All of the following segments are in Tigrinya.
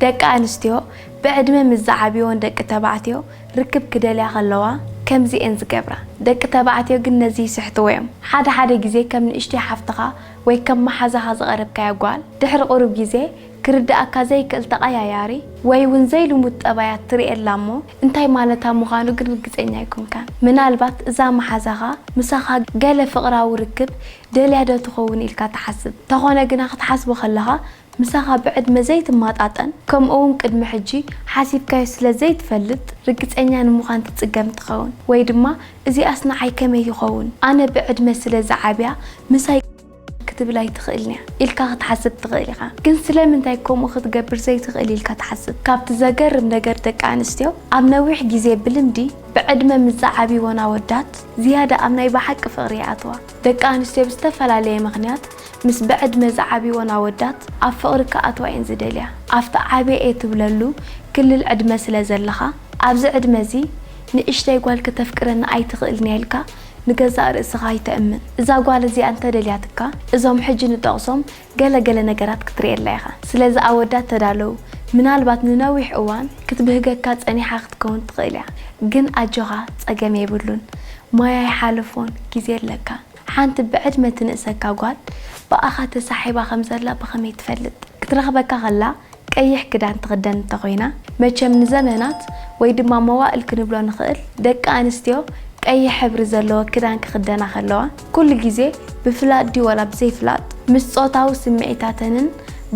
ደቂ ኣንስትዮ ብዕድመ ምስ ዝዓብዩወን ደቂ ተባዕትዮ ርክብ ክደልያ ከለዋ ከምዚ እየን ዝገብራ። ደቂ ተባዕትዮ ግን ነዚ ይስሕትዎ እዮም። ሓደ ሓደ ግዜ ከም ንእሽቶይ ሓፍትኻ ወይ ከም መሓዛኻ ዝቐረብካያ ጓል ድሕሪ ቁሩብ ግዜ ክርድኣካ ዘይክእል ተቐያያሪ ወይ እውን ዘይልሙድ ጠባያት ትርእየላ እሞ እንታይ ማለታ ምዃኑ ግን ርግጸኛ ኣይኮንካን። ምናልባት እዛ መሓዛኻ ምሳኻ ገለ ፍቕራዊ ርክብ ደልያ ዶ ትኸውን ኢልካ ትሓስብ። ተኾነ ግና ክትሓስቦ ከለኻ ምሳኻ ብዕድመ ዘይትማጣጠን ከምኡ'ውን ቅድሚ ሕጂ ሓሲብካዮ ስለ ዘይትፈልጥ ርግጸኛ ንምዃን ትጽገም ትኸውን። ወይ ድማ እዚኣስ ንዓይ ከመይ ይኸውን? ኣነ ብዕድመ ስለ ዝዓብያ ምሳይ ክትብል ኣይትኽእልን'ያ ኢልካ ክትሓስብ ትኽእል ኢኻ። ግን ስለምንታይ ከምኡ ክትገብር ዘይትኽእል ኢልካ ትሓስብ? ካብቲ ዘገርም ነገር ደቂ ኣንስትዮ ኣብ ነዊሕ ግዜ ብልምዲ ብዕድመ ምስ ዝዓብይወን ኣወዳት ዝያዳ ኣብ ናይ ብሓቂ ፍቕሪ ይኣትዋ። ደቂ ኣንስትዮ ብዝተፈላለየ ምኽንያት ምስ ብዕድመ ዝዓብይወን ኣወዳት ኣብ ፍቕሪ ክኣትዋ እየን ዝደልያ። ኣብቲ ዓብየ እየ ትብለሉ ክልል ዕድመ ስለ ዘለኻ፣ ኣብዚ ዕድመ እዚ ንእሽተይ ጓል ክተፍቅረኒ ኣይትኽእልን እያ ኢልካ ንገዛእ ርእስኻ ኣይተእምን። እዛ ጓል እዚኣ እንተደልያትካ እዞም ሕጂ ንጠቕሶም ገለ ገለ ነገራት ክትርእየላ ኢኻ። ስለዚ ኣወዳት ተዳለዉ። ምናልባት ንነዊሕ እዋን ክትብህገካ ጸኒሓ ክትከውን ትኽእል እያ። ግን ኣጆኻ ጸገም የብሉን። ማይ ኣይሓለፎን ግዜ ኣለካ። ሓንቲ ብዕድመ ትንእሰካ ጓል ብኣኻ ተሳሒባ ከም ዘላ ብኸመይ ትፈልጥ? ክትረኽበካ ከላ ቀይሕ ክዳን ትኽደን እንተ ኾይና፣ መቸም ንዘመናት ወይ ድማ መዋእል ክንብሎ ንኽእል፣ ደቂ ኣንስትዮ ቀይሕ ሕብሪ ዘለዎ ክዳን ክኽደና ከለዋ፣ ኩሉ ግዜ ብፍላጥ ድዩ ዋላ ብዘይፍላጥ ምስ ጾታዊ ስምዒታተንን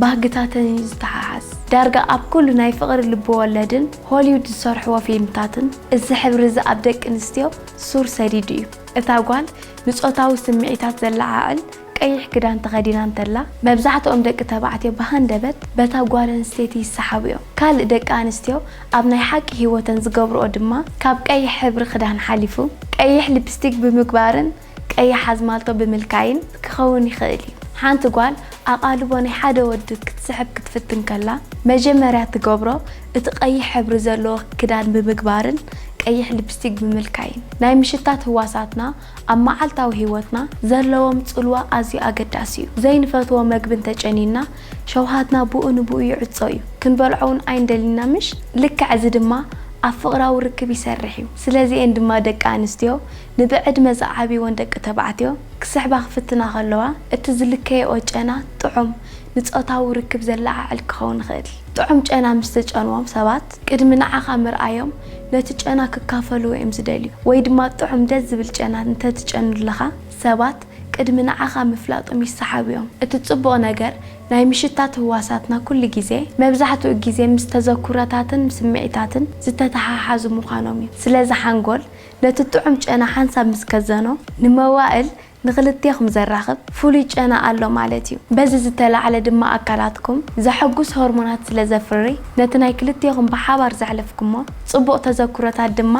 ባህግታተንን እዩ ዝተሓሓዝ። ዳርጋ ኣብ ኩሉ ናይ ፍቕሪ ልብወለድን ሆሊውድ ዝሰርሕዎ ፊልምታትን እዚ ሕብሪ እዚ ኣብ ደቂ ኣንስትዮ ሱር ሰዲዱ እዩ። እታ ጓል ንጾታዊ ስምዒታት ዘለዓዕል ቀይሕ ክዳን ተኸዲና እንተላ፣ መብዛሕትኦም ደቂ ተባዕትዮ ብሃንደበት በታ ጓል ኣንስተይቲ ይሰሓቡ እዮም። ካልእ ደቂ ኣንስትዮ ኣብ ናይ ሓቂ ህይወተን ዝገብርኦ ድማ ካብ ቀይሕ ሕብሪ ክዳን ሓሊፉ፣ ቀይሕ ሊፕስቲክ ብምግባርን ቀያሕ ኣዝማልቶ ብምልካይን ክኸውን ይኽእል እዩ። ሓንቲ ጓል ኣቓልቦ ናይ ሓደ ወዲ ክትስሕብ ክትፍትን ከላ፣ መጀመርያ እትገብሮ እቲ ቀይሕ ሕብሪ ዘለዎ ክዳን ብምግባርን ቀይሕ ሊፕስቲክ ብምልካይን፣ ናይ ምሽታት ህዋሳትና ኣብ መዓልታዊ ህይወትና ዘለዎም ጽልዋ ኣዝዩ ኣገዳሲ እዩ። ዘይንፈትዎ መግቢ እንተ ጨንዩና፣ ሸውሃትና ብኡ ንብኡ ይዕጾ እዩ። ክንበልዖ እውን ኣይንደልን ኢና ምሽ? ልክዕ እዚ ድማ ኣብ ፍቕራዊ ርክብ ይሰርሕ እዩ። ስለዚ እየን ድማ ደቂ ኣንስትዮ ንብዕድመ ዝዓብይወን ደቂ ተባዕትዮ ክስሕባ ክፍትና ከለዋ፣ እቲ ዝልከየኦ ጨና ጥዑም፣ ንጾታዊ ርክብ ዘለዓዕል ክኸውን ይኽእል። ጥዑም ጨና ምስ ዝጨንዎም ሰባት፣ ቅድሚ ንዓኻ ምርኣዮም ነቲ ጨና ክካፈልዎ እዮም ዝደልዩ። ወይ ድማ ጥዑም ደስ ዝብል ጨና እንተ ትጨኑለኻ፣ ሰባት ቅድሚ ንዓኻ ምፍላጦም ይሰሓቡ እዮም። እቲ ጽቡቕ ነገር፣ ናይ ምሽታት ህዋሳትና ኩሉ ግዜ፣ መብዛሕትኡ ግዜ ምስ ተዘኩሮታትን ስምዒታትን ዝተተሓሓዙ ምዃኖም እዩ። ስለዚ ሓንጎል ነቲ ጥዑም ጨና ሓንሳብ ምስ ከዘኖ፣ ንመዋእል ንኽልቴኹም ዘራኽብ ፍሉይ ጨና ኣሎ ማለት እዩ። በዚ ዝተላዕለ ድማ ኣካላትኩም ዘሐጉስ ሆርሞናት ስለ ዘፍሪ ነቲ ናይ ክልቴኹም ብሓባር ዘሕለፍኩሞ ጽቡቕ ተዘክሮታት ድማ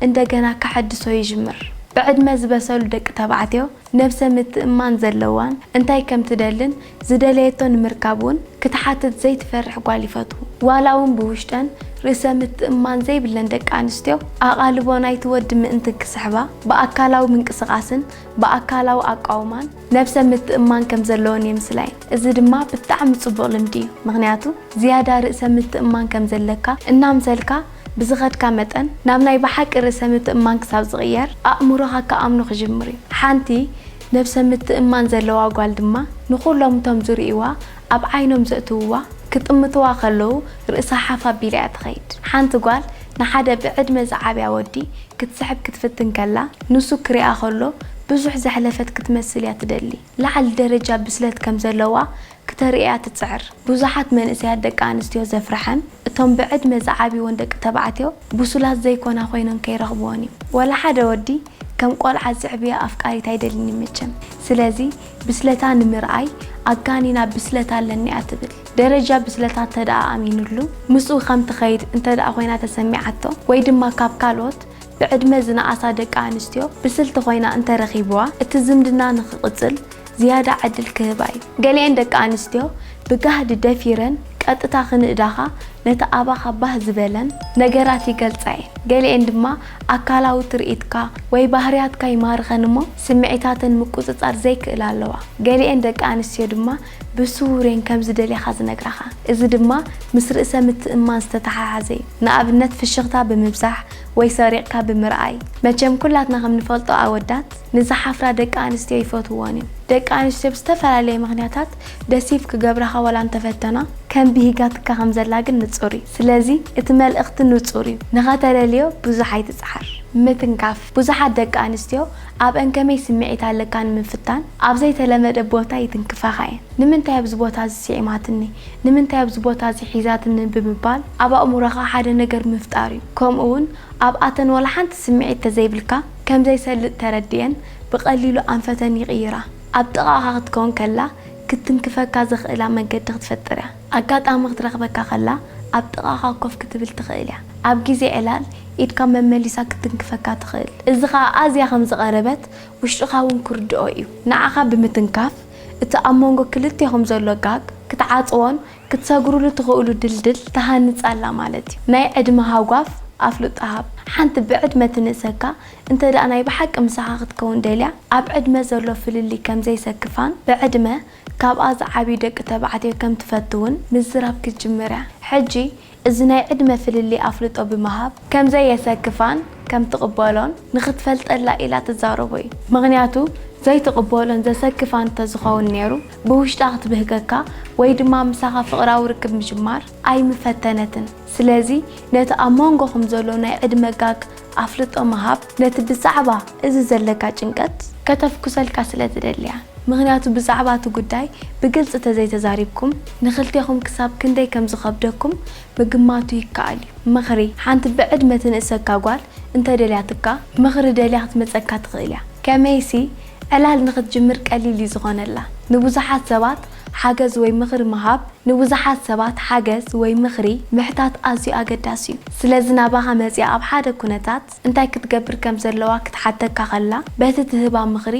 እንደገና ከሐድሶ ይጅምር። ብዕድመ ዝበሰሉ ደቂ ተባዕትዮ ነብሰ ምትእምማን ዘለዋን እንታይ ከም ትደልን ዝደለየቶ ንምርካብ ውን ክትሓትት ዘይትፈርሕ ጓል ይፈትዉ። ዋላ ውን ብውሽጠን ርእሰ ምትእምማን ዘይብለን ደቂ ኣንስትዮ ኣቓልቦ ናይቲ ወዲ ምእንቲ ክስሕባ ብኣካላዊ ምንቅስቓስን ብኣካላዊ ኣቋውማን ነብሰ ምትእምማን ከም ዘለወን የምስላ'የን። እዚ ድማ ብጣዕሚ ጽቡቕ ልምዲ እዩ ምኽንያቱ ዝያዳ ርእሰ ምትእምማን ከም ዘለካ እናምሰልካ ብዝኸድካ መጠን ናብ ናይ ብሓቂ ርእሰ ምትእምማን ክሳብ ዝቕየር፣ ኣእምሮኻ ክኣምኖ ክጅምር እዩ። ሓንቲ ነብሰ ምትእምማን ዘለዋ ጓል ድማ ንኹሎም እቶም ዝርእዩዋ ኣብ ዓይኖም ዘእትውዋ ክጥምትዋ ከለዉ ርእሳ ሓፍ ኣቢላ እያ ትኸይድ። ሓንቲ ጓል ንሓደ ብዕድመ ዝዓብያ ወዲ ክትስሕብ ክትፍትን ከላ ንሱ ክሪኣ ከሎ ብዙሕ ዘሕለፈት ክትመስል እያ ትደሊ። ላዕሊ ደረጃ ብስለት ከም ዘለዋ ክተርእያ ትጽዕር። ብዙሓት መንእሰያት ደቂ ኣንስትዮ ዘፍርሐን እቶም ብዕድመ ዝዓብይወን ደቂ ተባዕትዮ ብሱላት ዘይኮና ኮይነን ከይረኽብወን እዩ። ዋላ ሓደ ወዲ ከም ቆልዓ ዝስዕብያ ኣፍቃሪት ኣይደልን እዩ መቸም። ስለዚ ብስለታ ንምርኣይ ኣጋኒና ብስለት ኣለኒ እያ ትብል። ደረጃ ብስለታ እተደኣ ኣሚኑሉ ምስኡ ከም ትኸይድ እንተደኣ ኮይና ተሰሚዓቶ ወይ ድማ ካብ ካልኦት ብዕድመ ዝነኣሳ ደቂ ኣንስትዮ ብስልቲ ኮይና እንተረኺብዋ እቲ ዝምድና ንኽቕጽል ዝያዳ ዕድል ክህባ እዩ። ገሊኤን ደቂ ኣንስትዮ ብጋህዲ ደፊረን ቀጥታ ክንእዳኻ ነቲ ኣባኻ ባህ ዝበለን። ነገራት ይገልጻ እየን። ገሊኤን ድማ ኣካላዊ ትርኢትካ ወይ ባህርያትካ ይማርኸን እሞ ስምዒታተን ምቁጽጻር ዘይክእላ ኣለዋ። ገሊኤን ደቂ ኣንስትዮ ድማ ብስዉር እየን ከም ዝደልያኻ ዝነግራኻ። እዚ ድማ ምስ ርእሰ ምትእምማን ዝተተሓሓዘ እዩ። ንኣብነት ፍሽኽታ ብምብዛሕ ወይ ሰሪቕካ ብምርኣይ። መቸም ኩላትና ከም ንፈልጦ ኣወዳት። ንዝሓፍራ ደቂ ኣንስትዮ ይፈትውወን እዮም። ደቂ ኣንስትዮ ብዝተፈላለየ ምኽንያታት ደሲቭ ክገብራኻ ዋላ እንተፈተና፣ ከም ብሂጋትካ ከም ዘላ ግን ንጹር እዩ። ስለዚ እቲ መልእኽቲ ንጹር እዩ፣ ንኸተለልዮ ብዙሕ ኣይትጽዓር። ምትንካፍ፣ ብዙሓት ደቂ ኣንስትዮ ኣብ'ን ከመይ ስምዒት ኣለካ ንምፍታን ኣብ ዘይተለመደ ቦታ ይትንክፋኻ እየን። ንምንታይ ኣብዚ ቦታ እዚ ስዒማትኒ? ንምንታይ ኣብዚ ቦታ እዚ ሒዛትኒ? ብምባል ኣብ ኣእምሮኻ ሓደ ነገር ምፍጣር እዩ። ከምኡ'ውን ኣብኣተን ዋላ ሓንቲ ስምዒት ተዘይብልካ፣ ከም ዘይሰልጥ ተረዲኤን ብቐሊሉ ኣንፈተን ይቕይራ። ኣብ ጥቓኻ ክትከውን ከላ ክትትንክፈካ ዘኽእላ መንገዲ ክትፈጥር እያ። ኣጋጣሚ ክትረኽበካ ከላ ኣብ ጥቓኻ ኮፍ ክትብል ትኽእል እያ። ኣብ ግዜ ዕላል ኢድካ መመሊሳ ክትትንክፈካ ትኽእል። እዚ ኸኣ ኣዝያ ከም ዝቐረበት ውሽጥኻ እውን ክርድኦ እዩ። ንዓኻ ብምትንካፍ እቲ ኣብ መንጎ ክልቴኹም ዘሎ ጋግ ክትዓጽዎን ክትሰግሩሉ ትኽእሉ ድልድል ትሃንጽ ኣላ ማለት እዩ። ናይ ዕድመ ሃጓፍ ኣፍልጦ ሃብ። ሓንቲ ብዕድመ ትንእሰካ እንተድኣ ናይ ብሓቂ ምሳኻ ክትከውን ደልያ፣ ኣብ ዕድመ ዘሎ ፍልልይ ከም ዘይሰክፋን ብዕድመ ካብኣ ዝዓብዩ ደቂ ተባዕትዮ ከም ትፈትውን ምዝራብ ክትጅምር እያ። ሕጂ እዚ ናይ ዕድመ ፍልልይ ኣፍልጦ ብምሃብ ከም ዘየሰክፋን ከም ትቕበሎን ንኽትፈልጠላ ኢላ ትዛረቦ እዩ። ምኽንያቱ ዘይትቕበሎን ዘሰክፋን እንተዝኸውን ነይሩ ብውሽጣ ክትብህገካ ወይ ድማ ምሳኻ ፍቕራዊ ርክብ ምጅማር ኣይምፈተነትን። ስለዚ ነቲ ኣብ ሞንጎኹም ዘሎ ናይ ዕድመ ጋግ ኣፍልጦ ምሃብ ነቲ ብዛዕባ እዚ ዘለካ ጭንቀት ከተፍኩሰልካ ስለ ዝደሊ እያ። ምኽንያቱ ብዛዕባ እቲ ጉዳይ ብግልጺ ተዘይተዛሪብኩም ንኽልቴኹም ክሳብ ክንደይ ከም ዝኸብደኩም ምግማቱ ይከኣል እዩ። ምኽሪ፣ ሓንቲ ብዕድመ ትንእሰካ ጓል እንተ ደልያትካ ምኽሪ ደልያ ክትመጸካ ትኽእል እያ። ከመይሲ ዕላል ንኽትጅምር ቀሊል እዩ ዝኾነላ። ንብዙሓት ሰባት ሓገዝ ወይ ምኽሪ ምሃብ፣ ንብዙሓት ሰባት ሓገዝ ወይ ምኽሪ ምሕታት ኣዝዩ ኣገዳሲ እዩ። ስለዚ ናባኻ መጺኣ ኣብ ሓደ ኩነታት እንታይ ክትገብር ከም ዘለዋ ክትሓተካ ከላ በቲ ትህባ ምኽሪ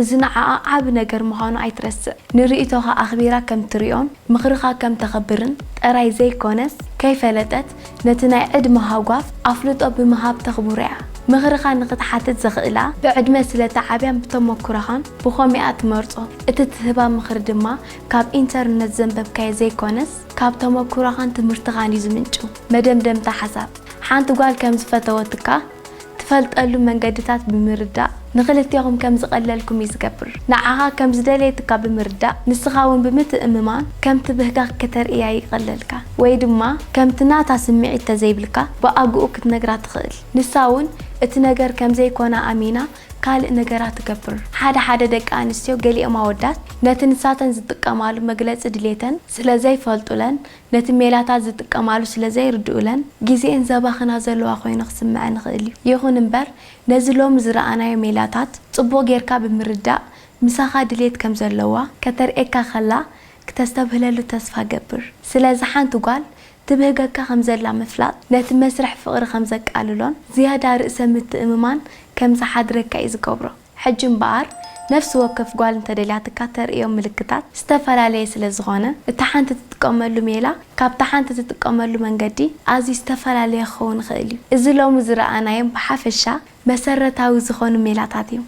እዚ ንዓኣ ዓቢ ነገር ምዃኑ ኣይትረስዕ። ንርእይቶኻ ኣኽቢራ ከም ትሪኦን ምኽርኻ ከም ተኽብርን ጥራይ ዘይኮነስ ከይፈለጠት ነቲ ናይ ዕድመ ሃጓፍ ኣፍልጦ ብምሃብ ተኽብሮ'ያ። ምኽርኻ ንኽትሓትት ዘኽእላ ብዕድመ ስለ እተዓብያን ብተመኩሮኻን ብኸምኡ'ያ እትመርጾ። እቲ እትህባ ምኽሪ ድማ ካብ ኢንተርነት ዘንበብካዮ ዘይኰነስ ካብ ተመኩሮኻን ትምህርትኻን'ዩ ዝምንጩ። መደምደምታ ሓሳብ፣ ሓንቲ ጓል ከም ዝፈተወትካ፣ ትፈልጠሉ መንገድታት ብምርዳእ ንኽልቴኹም ከም ዝቐለልኩም እዩ ዝገብር። ንዓኻ ከም ዝደለየትካ ብምርዳእ ንስኻ እውን ብምትእምማን ከምቲ ብህጋኽ ከተርእያ ይቐለልካ ወይ ድማ ከምቲ ናታ ስምዒት ተዘይብልካ ብኣግኡ ክትነግራ ትኽእል። ንሳ እውን እቲ ነገር ከም ዘይኮና ኣሚና ካልእ ነገራ ትገብር። ሓደ ሓደ ደቂ ኣንስትዮ ገሊኦም ኣወዳት ነቲ ንሳተን ዝጥቀማሉ መግለጺ ድሌተን ስለ ዘይፈልጡለን ነቲ ሜላታት ዝጥቀማሉ ስለ ዘይርድኡለን ግዜኤን ዘባኽና ዘለዋ ኮይኑ ክስመዐን ይኽእል እዩ። ይኹን እምበር ነዚ ሎሚ ዝረኣናዮ ሜላታት ጽቡቕ ጌርካ ብምርዳእ ምሳኻ ድሌት ከም ዘለዋ ከተርእየካ ከላ ክተስተብህለሉ ተስፋ እገብር። ስለዚ ሓንቲ ጓል ትብህገካ ከም ዘላ ምፍላጥ ነቲ መስርሕ ፍቕሪ ከም ዘቃልሎን ዝያዳ ርእሰ ምትእምማን ከም ዝሓድረካ እዩ ዝገብሮ። ሕጂ እምበኣር ነፍሲ ወከፍ ጓል እንተደልያትካ እተርእዮም ምልክታት ዝተፈላለየ ስለ ዝኾነ፣ እታ ሓንቲ እትጥቀመሉ ሜላ ካብታ ሓንቲ እትጥቀመሉ መንገዲ ኣዝዩ ዝተፈላለየ ክኸውን ይኽእል እዩ። እዚ ሎሚ ዝረኣናዮም ብሓፈሻ መሰረታዊ ዝኾኑ ሜላታት እዮም።